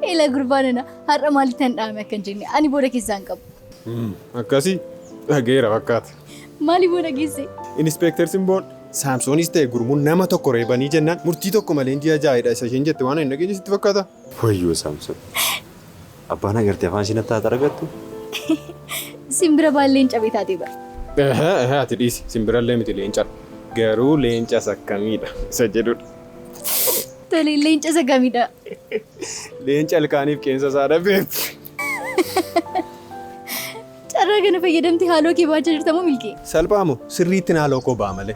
Eela gurbaa nana har'a maalitti hin dhaame akka hin jenne ani booda keessaa hin qabu. Akkasii dhageera fakkaata. Maali booda geesse? Inispeektar Simboon Saamsoonis ta'e gurmuun nama tokko reebanii jennaan murtii tokko malee ji'a jaa'edha isa isheen jette waan hin dhageenye sitti fakkaata. Wayyoo Saamsoon. Abbaan agartee afaan ishee natti haa xaragattu. Simbira baallee hin cabee taatee bara. Ehe ehe ati dhiisi simbirallee miti leencadha. Garuu leencas akkamiidha isa jedhudha. Tole leenca isa gamidha. Leenca ilkaaniif qeensa isaa dhabeetti. Carraa kana fayyadamtee haaloo kee baachaa jirta moo milkee? Salphaa moo sirriitti naaloo koo ba'a malee.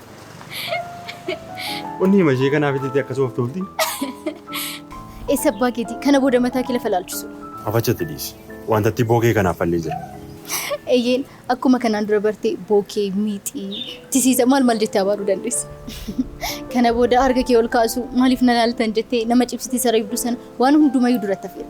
Onni hima ishee kanaaf itti akkasuma of tolti. Eessa abbaa keetii kana booda mataa kee lafa laalchisu. Afachatti dhiisi. Wanta itti bookee kanaaf fallee jira. Eeyyeen akkuma kanaan dura bartee bookee, miixii, tisiisa maal maal jettee abaaruu dandeessa. Kana booda harka kee ol kaasu maaliif na laaltan jettee nama cibsitee saree ibdu sana waan hundumayyuu duratti hafeera.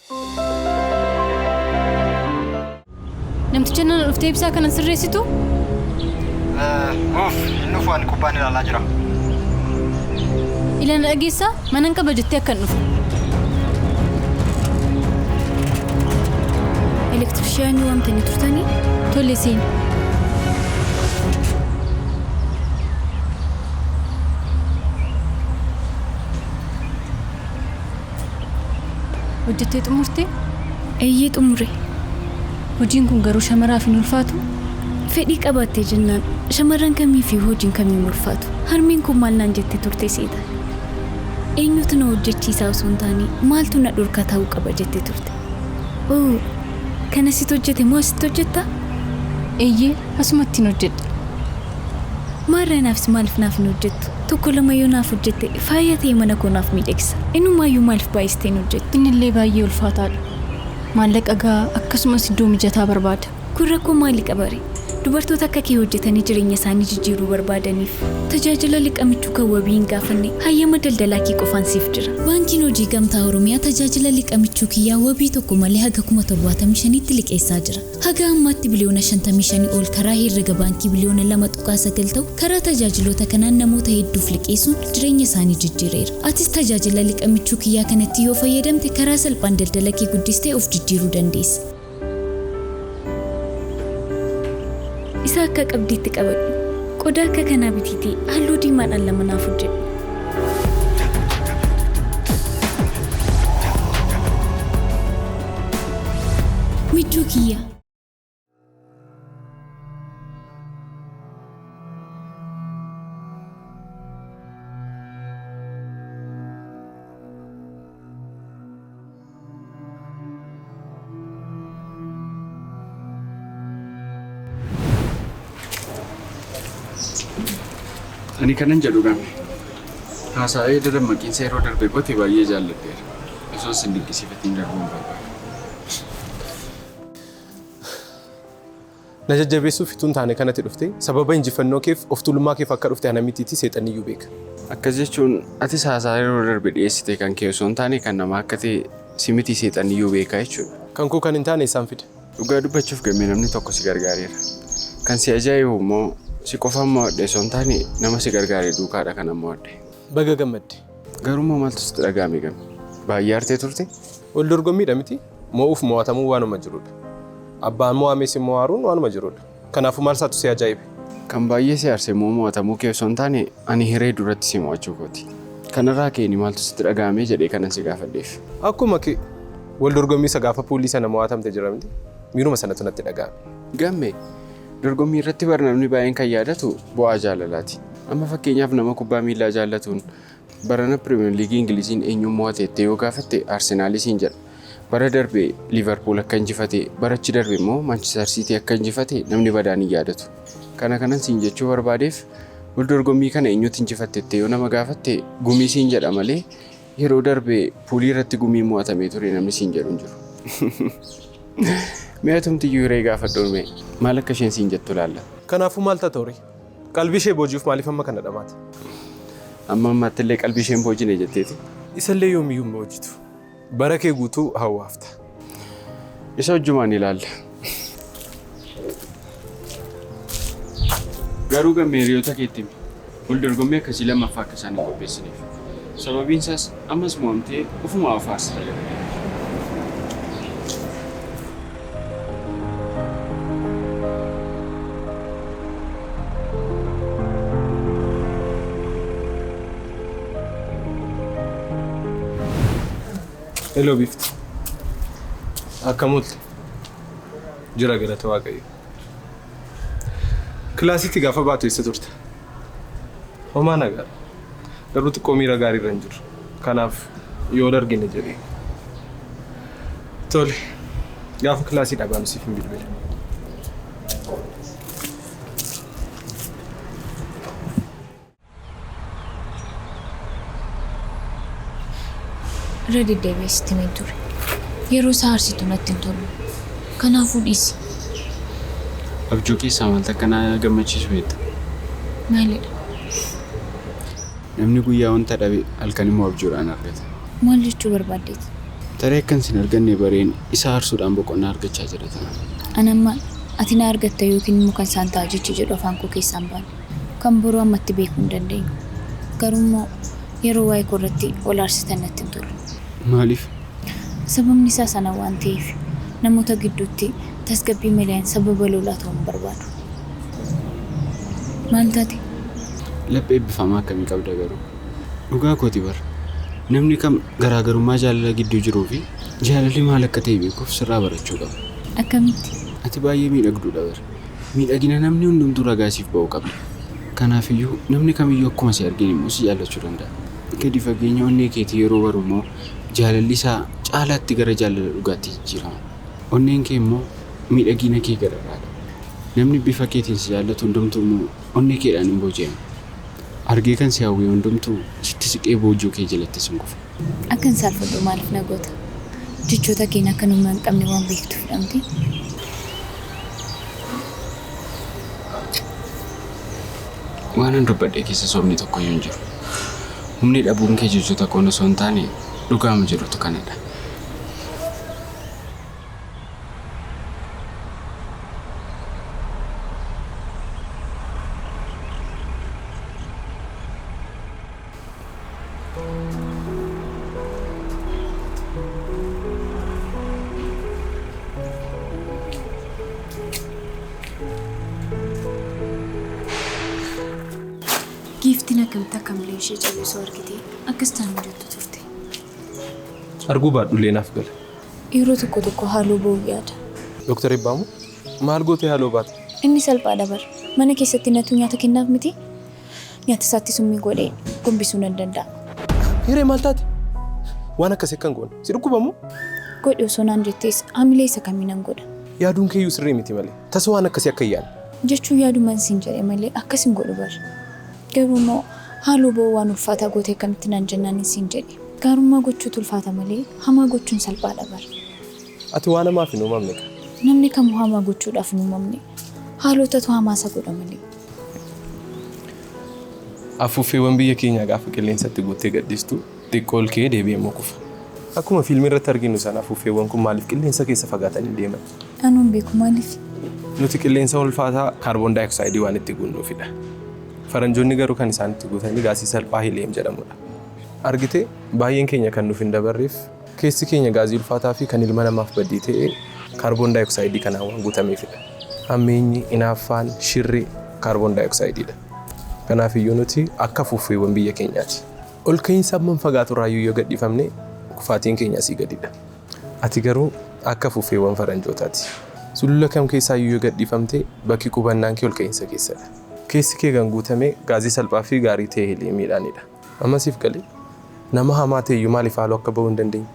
Namticha nana dhuftee ibsaa kana sirreessitu? Uff, hin dhufu ani kubbaan ilaalaa jira. Ilana dhageessaa manan qaba jettee akkan dhufu. Elektrishiyaanii waamtanii turtanii? Tole seeni. Hojjettee xumurte? Eeyyee xumure. Hojiin kun garuu shamaraaf hin ulfaatu? Fedhii qabaattee jennaan shamarran kamiifiyyuu hojiin kamii hin ulfaatu. Harmeen koo maal naan jette turte seeta? Eenyutu na hojjechiisaa osoo hin taane maaltu na dhorkaa ta'uu qaba jette turte. Oo, kan asitti hojjete moo asitti hojjetta? Eeyyee, asumattin hojjedha. Maarree anaafis maaliif naaf hin hojjettu? Tokko lama yoo naaf hojjette faaya ta'ee mana koo naaf miidhagsa. Inumaayyuu maaliif baay'istee hin hojjettu? Innillee baay'ee ulfaataadha. Maallaqa gahaa akkasumas iddoo mijataa barbaada. Kun rakkoo maali qabare? Dubartoota akka kee hojjetanii jireenya isaanii jijjiiruu barbaadaniif. Tajaajila liqa michuu kan wabii hin gaafanne hayyama daldalaa kee qofaan siif jira. Baankiin Hojii Gamtaa Oromiyaa tajaajila liqa michuu kiyyaa wabii tokko malee haga 75,000tti liqeessaa jira. Haga ammaatti biliyoona 55 ol karaa herrega baankii biliyoona 2.9 ta'u karaa tajaajiloota kanaan namoota hedduuf liqeessuun jireenya isaanii jijjiireera. Atis tajaajila liqa michuu kiyyaa kanatti yoo fayyadamte karaa salphaan daldala kee guddistee of jijjiiruu dandeessa. Isa akka qabdiitti qabadhu. Qodaa akka kanaa bitiitii halluu diimaadhaan lama naaf hojjedhu. Michuu kiyya! Ani kanan jedhu gamme. Haasa'ee dura maqiinsa yeroo darbe goote baay'ee jaalladheera. Osoo isin dinqisiifatiin darbuu hin barbaadu. Na jajjabeessuuf utuu hin taane kanatti dhufte, sababa injifannoo keef, of tuulummaa keef akka dhufte ana mitiitii seexanni iyyuu beeka. Akkas jechuun atis haasaa yeroo darbe dhiyeessite kan kee osoo hin taane kan namaa akka ta'e si mitii seexanni iyyuu beeka jechuudha. Kan koo kan hin taane eessaan fida? Dhugaa dubbachuuf Gammee namni tokko si gargaareera. Kan si ajaa'ibu immoo si qofaan mo'adhe osoo hin taane nama si gargaare duukaadha kanan mo'adhe. Baga gammadde! Garuu immoo maaltu sitti dhaga'ame Gamme? Baay'ee aartee turte? Wal dorgommiidha mitii? Mo'uuf mo'atamuun waanuma jirudha. Abbaan mo'ames immoo aaruun waanuma jirudha. Kanaafuu maalsaatu si ajaa'ibe? Kan baay'ee si aarse immoo mo'atamuu kee osoo hin taane ani hiree duratti si mo'achuu kooti. Kanarraa ka'een maaltu sitti dhaga'ame jedhee kanan si gaafadheef. Akkuma kee wal dorgommii isa gaafa puulii sana mo'atamte jira miti? Miiruma sanatu natti dhaga'ame. Gamme, Dorgommiirratti bar namni baay'een kan yaadatu bu'aa jaalalaati. Amma fakkeenyaaf nama kubbaa miillaa jaallatuun Barana Piriimer Liigii Ingiliziin eenyuun mo'ate jettee yoo gaafatte Arsenaalii siin jedha. Bara darbe Liivarpuul akka injifate, bara achi darbe immoo Maanchister Siitii akka injifate namni badaan hin yaadatu. Kana kanan siin jechuu barbaadeef wal dorgommii kana eenyutu injifatte jettee yoo nama gaafatte Gumii siin jedha malee yeroo darbe Puulii irratti Gumiin mo'atamee ture namni siin jedhu hin jiru. Mee atumtiyyuu hiree gaafadhuun mee maal akka isheen siin jettu ilaalla. Kanaafuu maal tata horii? Qalbii ishee booji'uuf maaliif amma kana dhamaata? Amma ammaatti illee qalbii isheen boojine jetteeti. Isallee yoomiyyuu hin boojitu. Bara kee guutuu hawwaafta. Isa hojjumaan ilaalla. Garuu gammee hiriyoota keetti himi. Wal dorgommii akkasii lammaffaa akka isaan hin qopheessineef. Sababiin isaas Ammas mo'amtee ofuma of aarsita jedhanii. Hello Biftu. Akkam oolte? Jira galata Waaqayyoo. Kilaasiitti gaafa baatu eessa turte? Homaa nagaa. Garuu xiqqoo miira gaarii irra hin jiru. Kanaaf yoo wal argine jedhee. Tole. Gaafa kilaasii dhabaanu siif hin bilbila. Irra deddeebi'ee sitti hin ture. Yeroo isaa aarsitu natti hin tolu. Kanaafuu dhiisi. Abjuu keessaa maaltu akka na gammachiisu beekta? Maalidha? Namni guyyaa wanta dhabe halkan immoo abjuudhaan argata. Maal jechuu barbaaddeeti? Tarii akkan sin arganne bareen isa aarsuudhaan boqonnaa argachaa jira ta'a. Ani amma ati na argatta yookiin immoo kan isaan ta'a jechi jedhu afaan koo keessaa hin baane. Kan boruu ammatti beekuu hin dandeenyu. Garuu immoo yeroo waa'ee koo irratti wal aarsitan natti hin tola. Maaliif? Sababni isaa sana waan ta'eef. Namoota gidduutti tasgabbii maleen sababa lolaa ta'uu hin barbaadu. Maal taate? Laphee eebbifamaa akkamii qabda garuu! Dhugaa kooti bar! Namni kam garaagarummaa jaalala gidduu jiruu fi jaalalli maal akka ta'e beekuuf sirraa barachuu qaba. Akkamitti? Ati baay'ee miidhagduudha bar! Miidhagina namni hundumtuu ragaa siif ba'uu qabda. Kanaaf iyyuu namni kamiyyuu akkuma si argeen immoo si jaallachuu danda'a. Gadi fageenya onnee keetii yeroo baru immoo, jaalalli isaa caalaatti gara jaalala dhugaatti jijjiirama. Onneen kee immoo miidhagiina kee gararraa dha. Namni bifa keetiin si jaallatu hundumtuu immoo onnee keedhaan in booji'ama. Argee kan si hawwee hundumtuu sitti siqee boojuu kee jalattis in kufa. Akkan saalfadhu maaliif na goota? Jechoota keen akkan humna hin qabne waan beektuuf dha mitii? Waanan dubbadhe keessa sobni tokko iyyuu hin jiru. Humni dhabuun kee jechoota koon osoo hin taane dhugaama jedhutu kanadha. Giiftiin akkamitti akka miila ishee callisu argitee akkas taan hin jettu turte. Arguu baadhullee naaf gala. Yeroo tokko tokko haaloo ba'uu yaada. Doktar Eebbaa moo? Maal gootee haaloo baata? Inni salphaadha bar. Mana keessatti natu nyaata kennaaf miti? Nyaata isaatti summii godhee gombisuu nan danda'a. Hiree maal taate? Waan akkasii akka hin goone. Si dhukkuba moo? Godhi osoo naan jettees hamilee isa kamii nan godha? Yaaduun keeyyuu sirrii miti malee. Tasa waan akkasii akka hin yaadne. jechuun yaaduman siin jedhe malee akkas hin godhu bar. Garuu immoo haaloo ba'uu waan ulfaataa gootee akkamitti naan jennaanin siin jedhe. Gaarummaa gochuutu ulfaata malee hamaa gochuun salphaadha bar. Ati waan hamaaf hin uumamne kaa. Namni kamuu hamaa gochuudhaaf hin uumamne. Haalootatu hamaa isa godha malee. Afuuffeewwan biyya keenyaa gaafa qilleensatti guuttee gadhiistu Xiqqoo ol ka'ee deebi'ee immoo kufa. Akkuma fiilmii irratti arginu sana afuuffeewwan kun maaliif qilleensa keessa fagaatanii deeman? Anuu hin beeku maaliif? Nuti qilleensa ulfaataa kaarboon daayoksaayidii waan itti guunnuufidha. Faranjoonni garuu kan isaan itti guutanii gaasii salphaa heliyeem jedhamudha. Argitee? Baay'een keenya kan nuuf hin dabarreef keessi keenya gaazii ulfaataa fi kan ilma namaaf baddii ta'e kaarboon daayoksaayidii kanaan waan guutameefidha. Hammeenyi, inaaffaan, shirri kaarboon daayoksaayidiidha. Kanaafiyyuu nuti akka afuuffeewwan biyya keenyaati. Ol ka'iinsa hammam fagaatu irraayyuu yoo gad dhiifamne kufaatiin keenya asii gadidha. Ati garuu akka afuuffeewwan faranjootaati. Sulula kam keessaayyuu yoo gad dhiifamte bakki qubannaan kee ol ka'iinsa keessadha. Keessi kee kan guutame gaazii salphaa fi gaarii ta'e heliyeemiidhaanidha. Amma siif galee? Nama hamaa ta'eyyuu maaliif haaloo akka ba'uu hin dandeenye?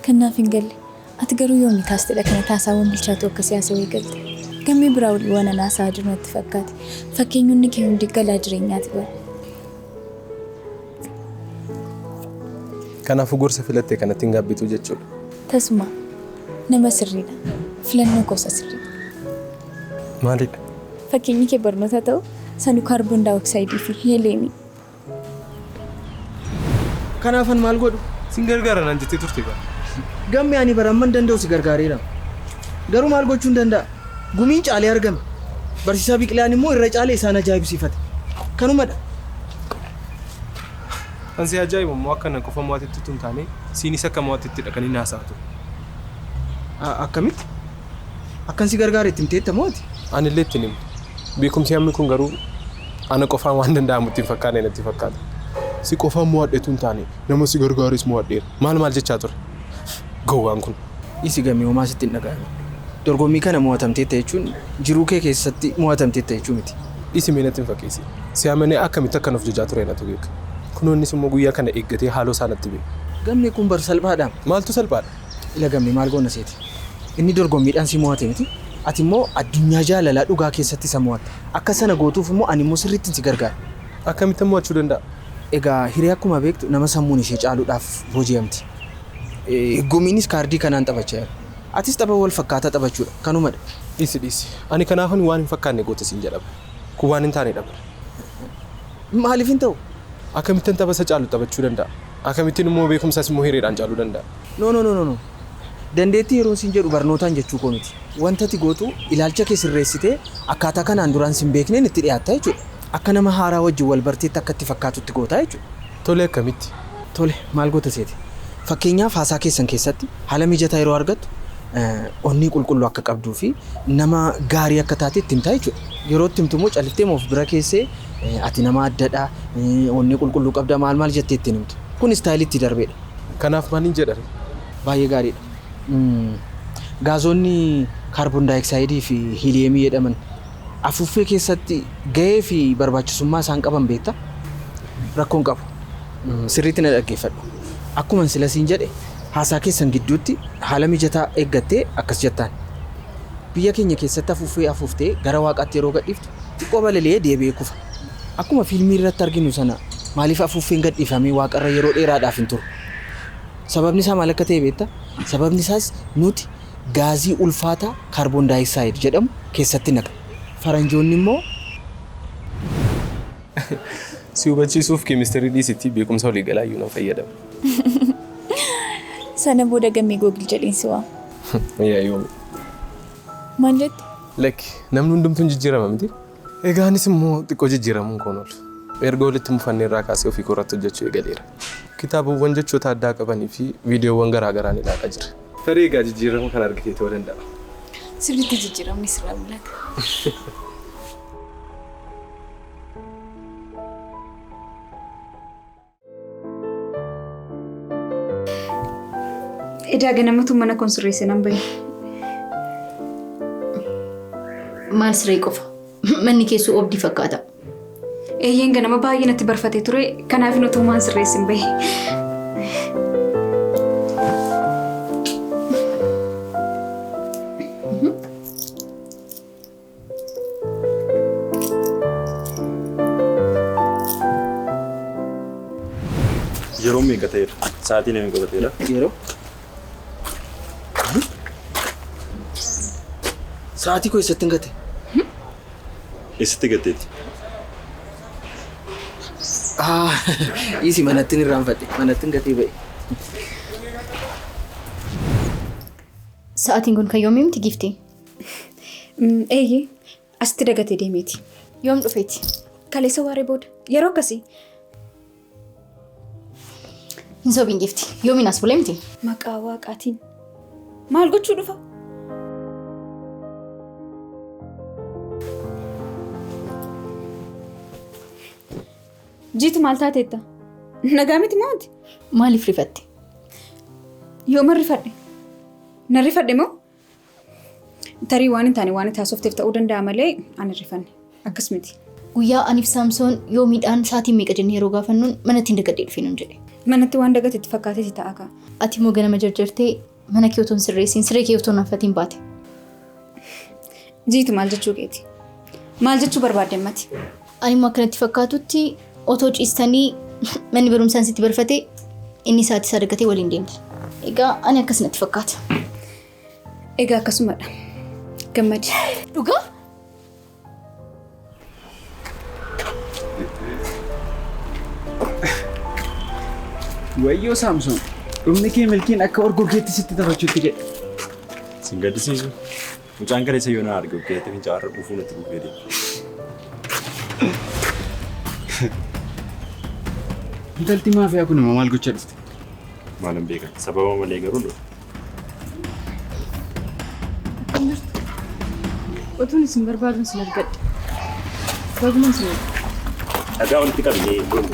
Kan naaf hin galle. Ati garuu yoomi taastedha kana taasaawwan bilchaatu akka siyaasa eegalte? Gammee biraa wal waan an haasa'aa jiru natti fakkaate. Fakkeenyonni kee hundi galaa jireenyaati bar. Kanaafuu gorsa filatte kanatti hin gaabbitu jechuudha. Tasumaa. Nama sirriidha. Filannoo koo isa sirriidha. Maalidha? Fakkeenyi kee barnoota ta'u sanu kaarboon daayoksaayidii fi heeliyeemii. Kanaafan maal godhu? Sin gargaara naan jettee turte bara. Gamme ani bara amman danda'u si gargaareera. Garuu maal gochuun danda'a? Gumiin caalee argame. Barsiisaa Biqilaan immoo irra caalee isaan ajaa'ibsiifate. Kanumadha. Kan si ajaa'ibu immoo akka na qofa mo'atetti utuu hin taane siinis akka mo'atettidha kan inni haasa'aa ture. A- Akkamitti? Akkan si gargaare itti himteetta moo ati? Anillee ittiin hime. Beekumsi hammi kun garuu ana qofaan waan danda'amu itti hin fakkaanne natti fakkaata. Si qofaan mo'adhe utuu hin taane nama si gargaares mo'adheera. Maal maal jechaa ture gowwaan kun? Dhiisi Game homaa sitti hin dhaga'amin. Dorgommii kana mo'atamteetta jechuun jiruu kee keessatti mo'atamteetta jechuu miti. Dhiisi mee natti hin fakkeessiin. Si amanee akkamitti akkan of jajaa ture natu beeka. Kunoo innis immoo guyyaa kana eeggatee haaloo isaa natti ba'e. Gammee kun bar salphaadhaam. Maaltu salphaadha? Ila gamme maal goonna seete? Inni dorgommiidhaan si mo'ate miti, ati immoo addunyaa jaalalaa dhugaa keessatti isa mo'atta. Akka sana gootuuf immoo ani immoo sirriittin si gargaara. Akkamittan mo'achuu danda'a? Egaa hiree akkuma beektu nama sammuun ishee caaluudhaaf booji'amti. Higgumiinis kaardii kanaan taphachaa jira. Atis tapha wal fakkaataa taphachuudha. Kanuma dha. Dhiisi dhiisi. Ani kanaafan waan hin fakkaanne goote siin jedha bar. Kun waan hin taane dha bar. Maaliif hin ta'u? Akkamittan tapha isa caalu taphachuu danda'a? Akamittin immoo beekumsas immoo hireedhaan caaluu danda'a? No no no no Dandeettii yeroon siin jedhu barnootaan jechuu koo miti. Wanta ati gootu ilaalcha kee sirreessitee akkaataa kanaan duraan sin beekneen itti dhiyaatta jechuudha. Akka nama haaraa wajjin wal barteetti akka itti fakkaatutti goota jechuudha. Tole akkamitti? Tole maal goota seete? Fakkeenyaaf haasaa keessan keessatti haala mijataa yeroo argattu onnee qulqulluu akka qabduu fi nama gaarii akka taate itti himta jechuudha. Yeroo itti himtu immoo callifteema of bira keessee Ati nama addadha, onnee qulqulluu qabda maal maal jettee itti hin himtu. Kun istaayilii itti darbedha. Kanaaf maalin jedharee? Baay'ee gaariidha. Gaazoonni kaarboondaayooksaayidii fi hiiliyeemii jedhaman afuuffee keessatti gahee fi barbaachisummaa isaan qaban beekta? Rakkoo hin qabu. Sirriitti na dhaggeeffadhu. Akkuman sila siin jedhe haasaa keessan gidduutti haala mijataa eeggattee akkas jettaan. Biyya keenya keessatti afuuffee afuuftee gara waaqaatti yeroo gadhiiftu Xiqqoo balali'ee deebi'ee kufa. Akkuma fiilmiirratti arginu sana maaliif afuuffeen gadhiifamee waaqarra yeroo dheeraadhaaf hin turu? Sababnisaa maal akka ta'e beektaa? Sababnisaas nuti gaazii ulfaataa kaarboon daayooksaayid jedhamu keessatti naqna. Faranjoonnimmoo. Si hubachiisuuf keemistirii dhiisiitii beekumsa waliigalaayyuu nan fayyadama. Sana booda gammee Google jedheen si waama. Yayoo. Maal jette? Lakki, namni hundumtuu hin jijjiirama miti. Egaa anis immoo xiqqoo jijjiiramuun koon oolu. Erga walitti mufanne irraa kaasee ofii koo irratti hojjechuu eegaleera. Kitaabawwan jechoota addaa qabanii fi viidiyoowwan garaa garaan ilaalaa jira. Tarii egaa jijjiirama kana argitee ta'uu danda'a. Sirriitti jijjiiramni sirraa mul'ata. Edaa ganamatu mana kun sirreesse nan bahe. Maal siree qofa? Manni keessu obdii fakkaata. Eeyyeen ganama baay'ee natti barfatee ture. Kanaaf nuti waan sirreesse hin bahe. Yeroo meeqa ta'eera? Sa'aatii namni godhateera. Yeroo? Sa'aatii koo eessatti hin gate? Eessatti gatteeti? Ah, isi manattin irraanfadhe. Manattin gatee ba'e. Sa'aatiin kun kan yoomii miti giiftii? Eeyyee asitti dagatee deemeeti. Yoom dhufeeti? Kaleessa waaree booda. Yeroo akkasii. Hin sobiin gifti. Yoomiin as bulee miti. Maqaa waaqaatiin. Maal gochuu dhufa? Jiitu maal taateetta? Nagaa miti maati? Maaliif rifatte? Yooma rifadhe? Na rifadhe moo? Tarii waan hin taane waan itti haasofteef ta'uu danda'a malee ani rifanne. Akkas miti. Guyyaa aniif Saamsoon yoo midhaan sa'aatiin meeqa jennee yeroo gaafannuun manatti hin dagadhee dhufee nuun jedhe. Manatti waan dagate itti fakkaatee si ta'a kaa. Ati immoo ganama jarjartee mana kee otoo hin sirreessiin siree kee otoo hin haffatiin baate. Jiiti maal jechuu keeti? Maal jechuu barbaadde ammati? Ani immoo akka natti fakkaatutti otoo ciistanii manni barumsaan sitti barfatee inni isaatti isaa argatee waliin deemtu. Egaa ani akkas natti fakkaata. Egaa akkasumadha. Gammadi. Dhugaa? Wayyoo Saamsoon, dhumni kee milkiin akka orgoggeetti sitti taphachuutti jedhe. Sin gaddisiisu. Mucaan kaleessa yoo na arge ukkeetti fincaa har'a quufuu natti buufee deema. Intalti maafiyaa kun immoo maal gochaa dhufte? Maalan beekan sababa malee garuu dhufe. Otuun isin barbaadun sin argadhe. Bagumaan sin argadhe. Dhagaa walitti qabnee deemu.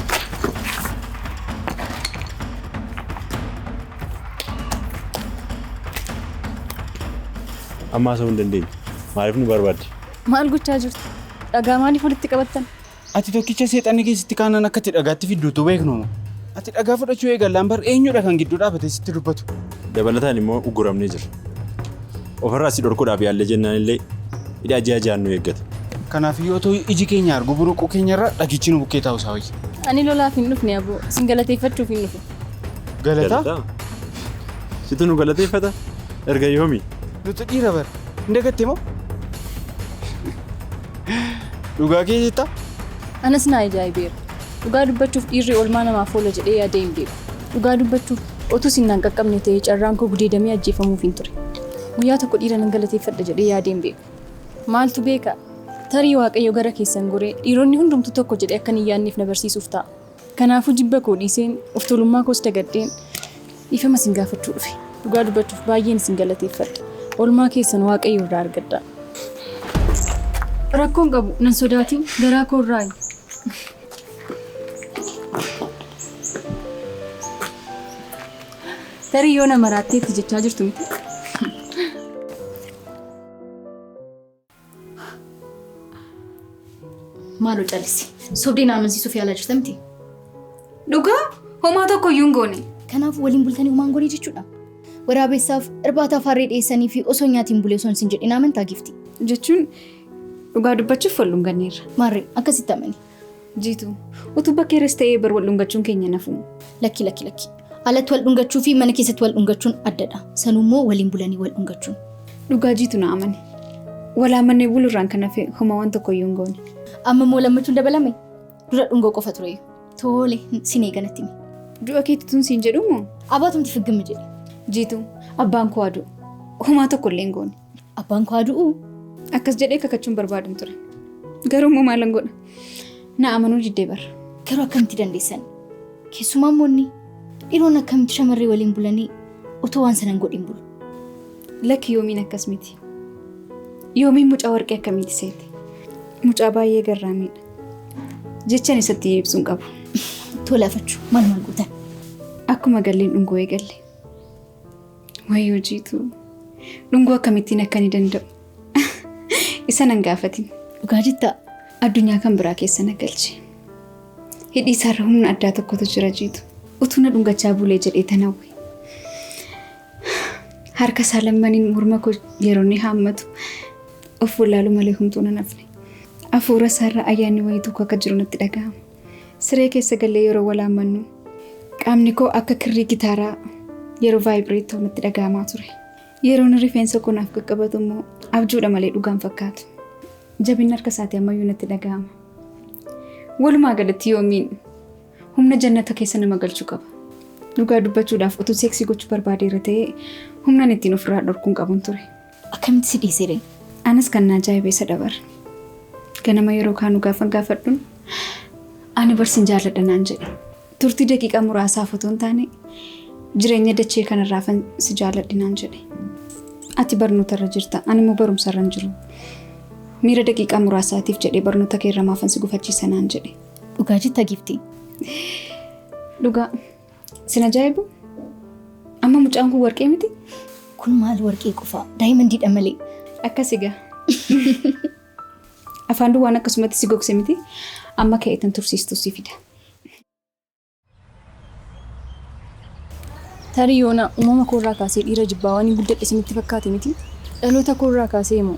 Amma haasa'uu hin dandeenyu. Maaliif nu barbaadde? Maal gochaa jirtu? Dhagaa maaliif walitti qabattan? Ati tokkicha seexanni keessatti kaanaan akka itti dhagaatti fidduutu beeknu. Ati dhagaa fudhachuu eegallaan bar eenyudha kan gidduu dhaabatee sitti dubbatu. Dabalataan immoo ugguramnee jira. Ofirraa si dhorkuudhaaf yaallee jennaan illee hidhaa ji'a ji'aan nu eeggata. Kanaaf yoo ta'u iji keenya argu buruquu keenyarra dhagichi nu bukkee taa'u isaa wayya. Ani lolaaf hin dhufne aboo. Isin galateeffachuuf hin dhufe. Galataa? Galataa? Situ nu galateeffata? Erga yoomi? Nuti dhiira bara. Hin dagatte moo? Dhugaa kee jettaa? Anas naa ajaa'ibeera. Dhugaa dubbachuuf dhiirri oolmaa namaaf oola jedhee yaadee hin beeku. Dhugaa dubbachuuf otuu sin naan qaqqabne ta'ee carraan koo gudeedamee ajjeefamuuf hin ture. Guyyaa tokko dhiira nan galateeffadha jedhee yaadee hin beeku. Maaltu beeka? Tarii Waaqayyo gara keessan goree dhiironni hundumtuu tokko jedhee akkan hin yaadneef na barsiisuuf ta'a. Kanaafuu jibba koo dhiiseen, of tolummaa koos dagadheen dhiifama isin gaafachuu dhufe. Dhugaa dubbachuuf baay'een isin galateeffadha. Oolmaa keessan Waaqayyo irraa argadhaa. Rakkoo hin qabu, nan sodaatin, garaa koo irraayi. Tarii yoo na maraattee itti jechaa jirtu miti? Maaloo callisi. Sobdee na amansiisuuf yaalaa jirta miti. Dhugaa homaa tokko iyyuu hin goone. Kanaaf waliin bultanii homaan goonee jechuudha. Waraabessaaf irbaata afaarree dhiyeessanii fi osoo nyaatiin bulee osoo hin sin jedhin amantaa gifti. Jechuun dhugaa dubbachuuf wal dhunganneerra. Maarree akkasitti amani. Jiitu, utuu bakka irras ta'ee bar wal dhungachuun keenya nafu. Lakki lakki lakki. Alatti wal dhungachuu fi mana keessatti wal dhungachuun addadha. Sanuu immoo waliin bulanii wal dhungachuun. Dhugaa jiitu na amane. Wal amannee bulurraan kan hafe homa waan tokko iyyuu hin goone. Amma immoo lammachuun dabalame dura dhungoo qofa ture. Tole sin eeganatti mi. Du'a keetti tun siin jedhumoo? Abaatumti figgimmi jedhe. Jiitu, abbaan koo aduu. Homaa tokko illee hin goone. Abbaan koo adu'u. Akkas jedhee kakachuun barbaadun ture. Garuu immoo maalan godha? Na amanuu diddee bara. Garuu akkamitti dandeessan? Keessumaa immoo inni dhiiroon akkamitti shamarree waliin bulanii otoo waan sanan godhin bulu. Lakki yoomiin akkas miti. Yoomiin mucaa warqee akkamitti seete? Mucaa baay'ee garraamiidha. Jechan isatti ibsuun qabu. Tola fachuu maal maal gootan? Akkuma galleen dhungoo eegalle. Wayyoo jiitu. Dhungoo akkamittiin akka ni danda'u. Isa nan gaafatin. Dhugaa jetta addunyaa kan biraa keessa na galche. Hidhii isaarra humna addaa tokkotu jira jiitu. Utuu na dhungachaa bulee jedhee tanawwe. Harka isaa lammaniin morma koo yeroo inni haammatu of wallaalu malee humtuu nan hafne. Afuura isaarra ayyaanni wayii tokko akka jiru natti dhaga'ama. Siree keessa gallee yeroo walaammannu qaamni koo akka kirrii gitaaraa yeroo vaayibireet ta'u natti dhaga'amaa ture. Yeroon rifeensa koo naaf qaqqabatu immoo abjuudha malee dhugaan fakkaatu. Jabinni harka isaatii ammayyuu natti dhaga'ama. Walumaa galatti yoomiin humna jannata keessa nama galchu qaba. Dhugaa dubbachuudhaaf utuu seeksii gochuu barbaadeera ta'ee humnaan ittiin ofirraa dhorkuun qabun ture. Akkamitti si dhiisee deema? Anas kan na ajaa'ibe isa dabar. Ganama yeroo kaanu gaafan gaafadhun ani barsin jaalladha naan jedhe. Turtii daqiiqaa muraasaaf otoo hin taane jireenya dachee kanarraafan si jaalladhe naan jedhe. Ati barnoota irra jirta ani immoo barumsa irra hin jiru. Miira daqiiqaa muraasaatiif jedhee barnoota kee irra maafan si gufachiisa naan jedhe. Dhugaa jetta giftii. Dhugaa Sin ajaa'ibu amma mucaan kun warqee miti? Kun maal warqee qofaa daayimandiidha malee. Akkas egaa. Afaan duwwaan akkasumatti si gogse miti amma ka'eetan tursiistu si fida. Tarii yoona uumama koorraa kaasee dhiira jibbaa waan hin guddadhe isinitti fakkaate miti. Dhaloota koorraa kaasee immoo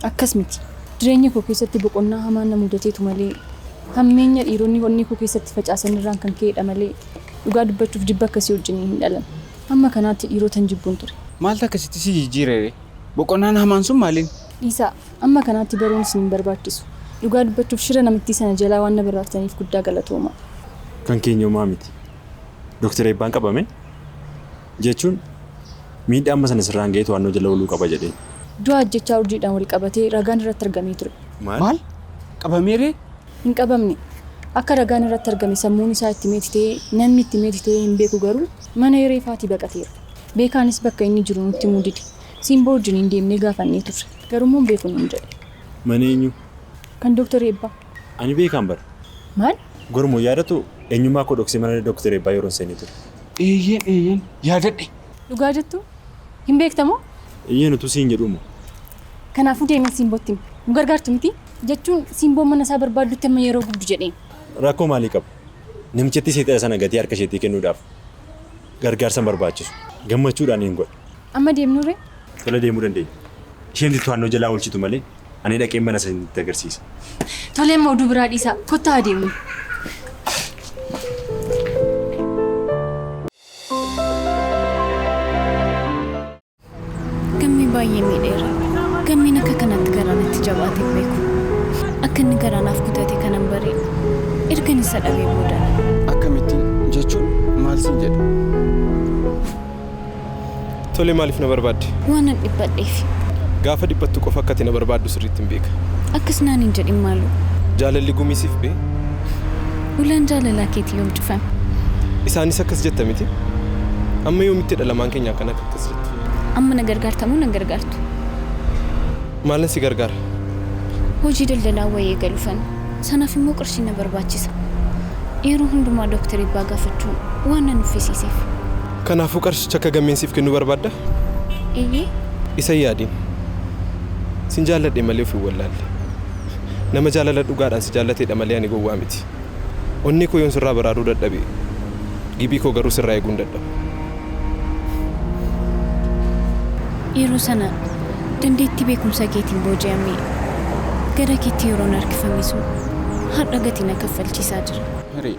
akkas miti. Jireenya koo keessatti boqonnaa hamaan na mudateetu malee Hammeenya dhiironni onnee koo keessatti facaasan irraan kan ka'eedha malee, dhugaa dubbachuuf jibba akkasii wajjin hin dhalanne. Hamma kanaatti dhiirotan jibbun ture. Maaltu akkasitti si jijjiire ree? Boqonnaan hamaan sun maaliin? Dhiisaa, amma kanaatti baruun isin hin barbaachisu. Dhugaa dubbachuuf shira namittii sana jalaa waan na baraarsitaniif guddaa galatoomaa. Kan keenya homaa miti. Doktar Eebbaan qabame. jechuun miidhaa amma sana sirraan ga'ee to'annoo jala ooluu qaba jedheen. Du'a ajjeechaa urjiidhaan wal qabatee ragaan irratti argamee ture. Maal? Qabamee ree? Hin qabamne. Akka ragaan irratti argame sammuun isaa itti meeti ta'ee, namni itti meeti ta'ee hin beeku garuu mana hiree faatii baqateera. Beekaanis bakka inni jiru nutti himuu dide. Siimboo wajjiniin deemnee gaafannee turre. Garuu immoo hin beeku nuun jedhe. Mana eenyuu? Kan Dooktar Eebbaa. Ani beekaan bar. Maal? Gormoo, Yaadattu eenyummaa koo dhoksee mana Doktar Eebbaa yeroon seenee ture. Eeyyeen eeyyeen yaadadhe. Dhugaa jettuu? Hin beekta moo? Eeyyeen utuu siin jedhuu moo. Kanaafuu deemee Siimbootti himi. Nu gargaartu mitii? Jechuun Siimboon mana isaa barbaaddutti amma yeroo gubdu jedheen. Rakkoo maalii qaba? Namichattii seexana sana gatii harka isheetii kennuudhaaf gargaarsa hin barbaachisu. Gammachuudhaan niin godha. Amma deemnuree? Tola deemuu dandeenya. Isheentu to'annoo jalaa oolchitu malee ani dhaqeen mana isinitti agarsiisa. Tolee amma oduu biraa dhiisaa kottaa haa deemnu. Gammee baay'ee miidheera. Gammeen akka kanatti garaa natti jabaate hin beeku. Akka inni garaa naaf kutate kanan bare ergan isa dhabee booda. Akkamittiin? Jechuun maal siin jedhe? Tole maaliif na barbaadde? Waanan dhiphadheefi. Gaafa dhiphattu qofa akka ati na barbaaddu sirriittin beeka. Akkas naan hin jedhin maaloo. Jaalalli gumii siif bee? Ulaan jaalalaa keetii yoom cufame? Isaanis akkas jetta miti? Amma yoomittidha lamaan keenya akkanatti akkas jettu? Amma na gargaarta moo na hin gargaartu? Maalan si gargaara? Hojii daldalaa wayii eegaluufan. Sanaaf immoo qarshiin na barbaachisa. Yeroo hundumaa Doktar Eebbaa gaafachuun waan na nuffisiiseef. Kanaafuu qarshicha akka gammeen siif kennu barbaadda? Eeyyee. Isa hin yaadin. Sin jaalladhe malee of hin wallaalle. Nama jaalala dhugaadhaan si jaallateedha malee ani gowwaa miti. Onnee koo yoon sirraa baraaruu dadhabe, gibii koo garuu sirraa eeguu hin dadhabu. Yeroo sana dandeettii beekumsa keetiin booji'amee gara keetti yeroon harkifame sun har'a gatii na kaffalchiisaa jira. Hiree.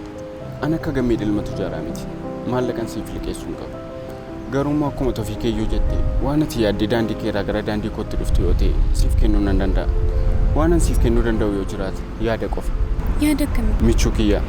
An akka Gammee ilma tujaaraa miti. Maallaqan siif liqeessu hin qabu. Garuu immoo akkuma Tofiikeeyyuu jette waan ati yaadde daandii keerraa gara daandii kootti dhufte yoo ta'e siif kennuu nan danda'a. Waanan siif kennuu danda'u yoo jiraate yaada qofa. Yaada akkamii? Michuu kiyya.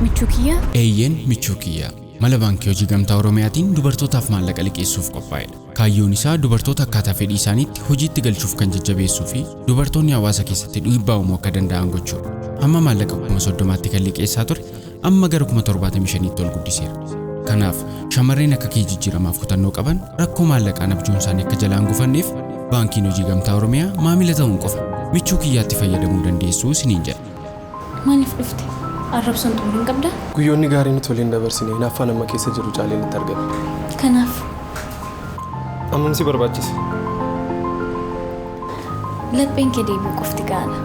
Michuu kiyya? Eeyyeen michuu kiyya. Mala Baankii Hojii Gamtaa Oromiyaatiin dubartootaaf maallaqa liqeessuuf qophaa'edha. Kaayyoon isaa dubartoota akkaataa fedhii isaaniitti hojiitti galchuuf kan jajjabeessuu fi dubartoonni hawaasa keessatti dhiibbaa uumuu akka danda'an gochuudha. Hamma maallaqa kuma soddomaatti kan liqeessaa ture amma gara kuma torbaatamii shaniitti ol guddiseera. Kanaaf shamarreen akka kee jijjiiramaaf kutannoo qaban rakkoo maallaqaan abjuun isaanii akka jalaan gufanneef baankiin hojii gamtaa Oromiyaa maamila ta'uun qofa michuu kiyyaatti fayyadamuu dandeessuu isiniin jedha. Maaliif dhufte? Arrabsoon xumura hin qabdaa? Guyyoonni gaariin utuu waliin dabarsine hinaaffaan amma keessa jiru caalee natti argame. Kanaaf. Ammam si barbaachise? Lapheen kee deebi'uu qofti ga'aadha.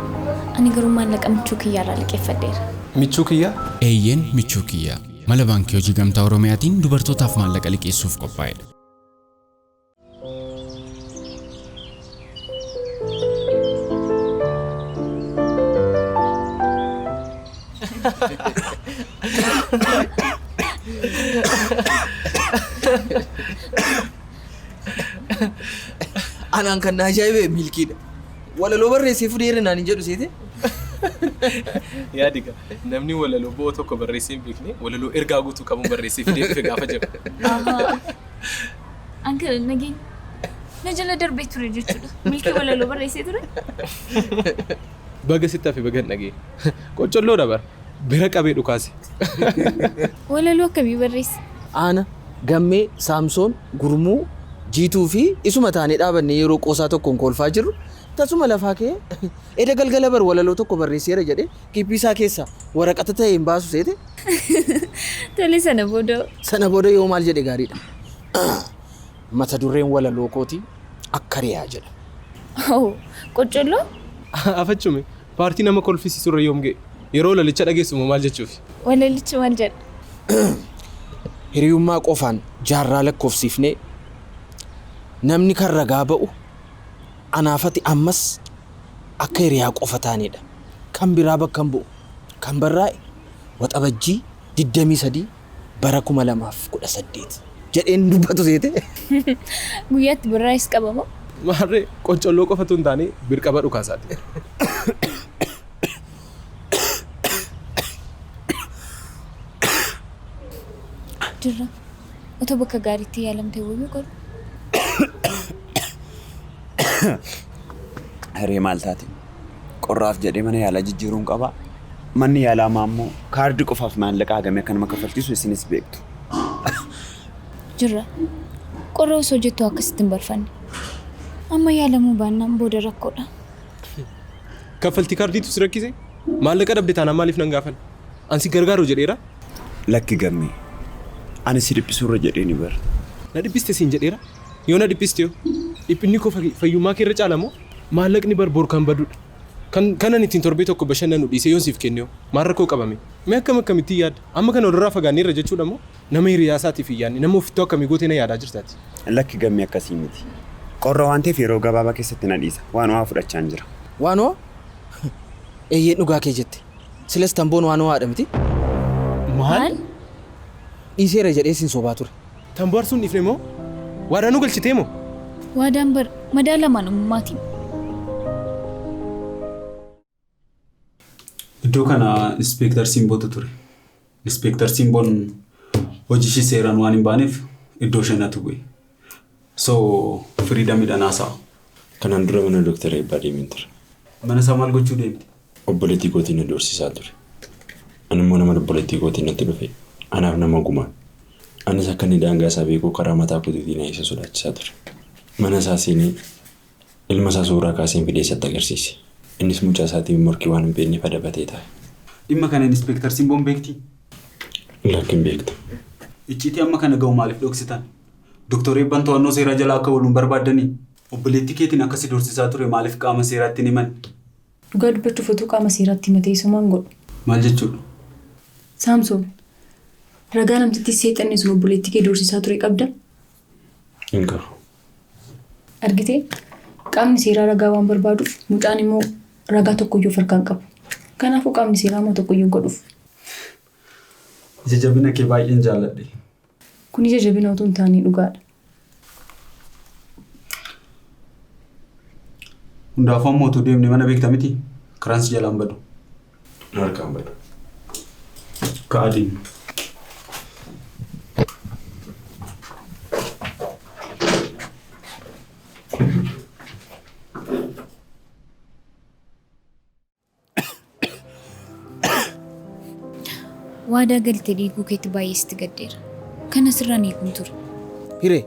Ani garuu maallaqa michuu kiyyaa irraa liqeeffadheera. Michuu kiyyaa? Eeyyeen, michuu kiyyaa. Mala Baankii Hojii Gamtaa Oromiyaatiin dubartootaaf maallaqa liqeessuuf qophaa'edha. Anaan kan na ajaa'ibe milkiidha. Walaloo barreessee fudeera naan hin jedhu seete. Yaadi gaa namni walaloo bo'oo tokko barreessee hin beekne walaloo ergaa guutuu qabuun barreessee fidee dhufe gaafa jedhu. Uncle Nagin na jala darbee ture jechuudha. Milkii walaloo barreessee ture. Baga sitti hafe baga hin dhagee. Qoccolloodha bara. Bira qabee dhukaase. Walaloo akkamii barreesse? Aana, Gammee, Saamsoon, Gurmuu, Jiituu fi isuma taanee dhaabannee yeroo qoosaa tokkoon koolfaa jirru tasuma lafaa ka'ee eda galgala bar walaloo tokko barreesseera jedhee Giphii isaa keessa waraqata ta'e hin baasu seete. Tole sana booda. Sana booda yoo maal jedhe gaariidha. Mata dureen walaloo kooti akka riyaa jedha. Oh, qoccolloo? Afachume paartii nama kolfisiisu irra yoom ga'e? Yeroo walalicha dhageessu moo maal jechuufi? Walalichi maal jedha? Hiriyummaa qofaan jaarraa lakkoofsiifnee namni kan ragaa ba'u anaafati ammas akka hiriyaa qofa taanedha. Kan biraa bakka hin bu'u. Kan barraa'e Waxabajjii 23 bara 2018 jedhee hin dubbatu seetee? Guyyaatti barraa'es qaba moo? Maarree qoccolloo qofa utuu hin taane birqaba dhukaasaati. Jirra. Otoo bakka gaariitti yaalamtee wayyu garuu. Hiree maal taate? Qorraaf jedhee mana yaalaa jijjiiruun qabaa? Manni yaalaa ammaa immoo kaardii qofaaf maallaqa hagamee akka nama kaffalchiisu isinis beektu. Jirra. Qorra osoo jettuu akkasitti hin barfanne. Amma yaalamuu baannaan booda rakkoodha. Kaffaltii kaardiitu si rakkise? Maallaqa dhabde taanaan maaliif nan gaafan? An si gargaaru jedheera? Lakki gammee. Ani si dhiphisurra jedheeni bar. Na dhiphiste siin jedheera? Yoo na dhiphisti hoo? Dhiphinni koo fayyummaa kee irra caala moo? Maallaqni bar bor kan badudha. Kan kan ani ittiin torbee tokko bashannanu dhiisee yoon siif kenne hoo? Maal rakkoo qaba mee? Mee akkam akkamittiin yaadda? Amma kana walirraa fagaanneerra jechuudha moo? Nama hiriyaa isaatiif hin yaadne, nama ofittoo akkamii gootee na yaadaa jirta ati? Lakki Gammee akkasii miti. Qorra waan ta'eef yeroo gabaabaa keessatti na dhiisa. Waan ho'aa fudhachaan jira. Waan ho'aa? Eeyyeen dhugaa kee jette. Silas tamboon waan ho'aadha miti? Maal? Dhiiseera jedhee sin sobaa ture. Tan bohaarsu hin dhiifne moo? Waadaa nu galchitee moo? Waadaan bar madaala amanamummaatiin. Iddoo kana Inspeektar Simbootu ture. Inspeektar Simboon hojii ishii seeraan waan hin baaneef iddoo ishee natu bu'e. So firiidamidhaan haasa'a. Kanaan dura mana Dooktar Eebbaa deemeen ture. Mana isaa maal gochuu deemte? Obboleettii kootiin na doorsisaa ture. Ani immoo naman obboleettii kootiin natti dhufe anaaf nama oguma. Anis akka inni daangaa isaa beeku karaa mataa kootiitiin na isa sodaachisaa ture. Mana isaa seenee ilma isaa suuraa kaaseen fidee isatti agarsiise. Innis mucaa isaatiin morkii waan hin beekneef adabatee taa'e. Dhimma kana Inispeektar Simboon beektii? Lakki hin beektu. Icciitii amma kana ga'u maaliif dhoksitan? Doktar Eebban to'annoo seeraa jala akka oolu hin barbaaddanii? Obboleettii keetiin akka si doorsisaa ture maaliif qaama seeraatti hin himanne? Dhugaa dubbachuuf otuu qaama seeraatti himatee isoo maan godhu? Maal jechuudha? Saamsoon, ragaa namtittii seexanni sun obboleettii kee doorsisaa ture qabda? Hin qabu. Argite? Qaamni seeraa ragaa waan barbaaduuf mucaan immoo ragaa tokkoyyuu of harkaa hin qabu. Kanaafuu qaamni seeraa immoo tokkoyyuu hin godhuuf. Ija jabina kee baay'een jaalladhe. Kun ija jabina utuu hin taane dhugaadha. Hundaafuu amma utuu deemne mana beekta miti karaan si jalaan badu. Na harkaan badu. Ka'aa deemna. Waadaa galte diiguu keetti baay'ee sitti gaddeera. Kana sirraan eeguun ture. Hiree,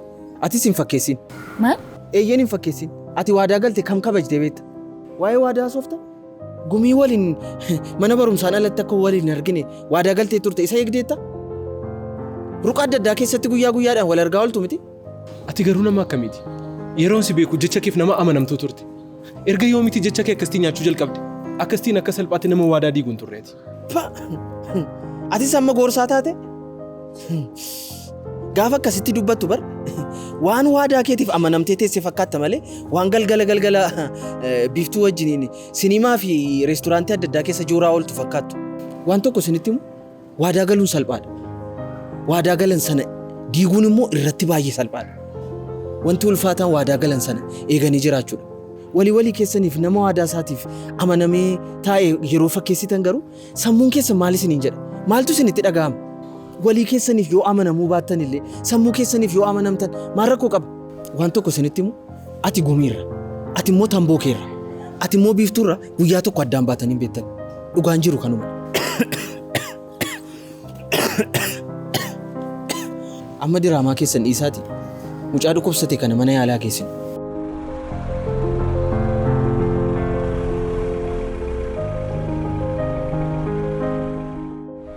atis hin fakkeessin. Maal? Eeyyeen hin fakkeessin. Ati waadaa galte kam kabajde beekta? Waa'ee waadaa soofta? Gumii waliin mana barumsaan alatti akka waliin hin argine waadaa galtee turte isa eegdeetta? Ruqa adda addaa keessatti guyyaa guyyaadhaan wal argaa ooltu miti? Ati garuu nama akkamiiti? Yeroon si beeku jecha keef nama amanamtuu turte. Erga yoomiitii jecha kee akkasitii nyaachuu jalqabde? Akkasitiin akka salphaatti nama waadaa diigu hin turre ati. Pa! Atis amma gorsaa taate? Gaafa akkasitti dubbattu bar waan waadaa keetiif amanamtee teesse fakkaatta malee waan galgala galgala eh, biiftuu wajjiniin sinimaa fi reesturaantii adda addaa keessa jooraa ooltu fakkaattu. Waan tokko isinitti himu Waadaa galuun salphaadha. Waadaa galan sana diiguun immoo irratti baay'ee salphaadha. Wanti ulfaataan waadaa galan sana eeganii jiraachuudha. Walii walii keessaniif nama waadaa isaatiif amanamee taa'e yeroo fakkeessitan garuu sammuun keessan maal isiniin jedha? Maaltu isinitti dhaga'ama? Walii keessaniif yoo amanamuu baattan illee sammuu keessaniif yoo amanamtan maal rakkoo qaba? Waan tokko isinitti himu ati gumiirra, ati immoo tamboo keerra, ati immoo biiftuurra Guyyaa tokko addaan baatanii hin beektan. Dhugaan jiru kanuma. Amma diraamaa keessan dhiisaati. Mucaa dhukkubsate kana mana yaalaa geessin.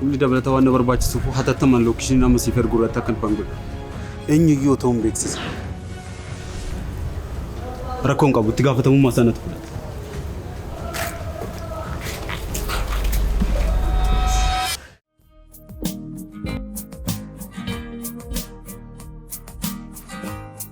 Humni dabalataa waan na barbaachisuuf hatattamaan lookishiniin amma siif ergu irratti akka dhufan godha. Eenyuyyuu otoo hin beeksisa. Rakkoon qabu itti gaafatamummaa isaa natu fudhata.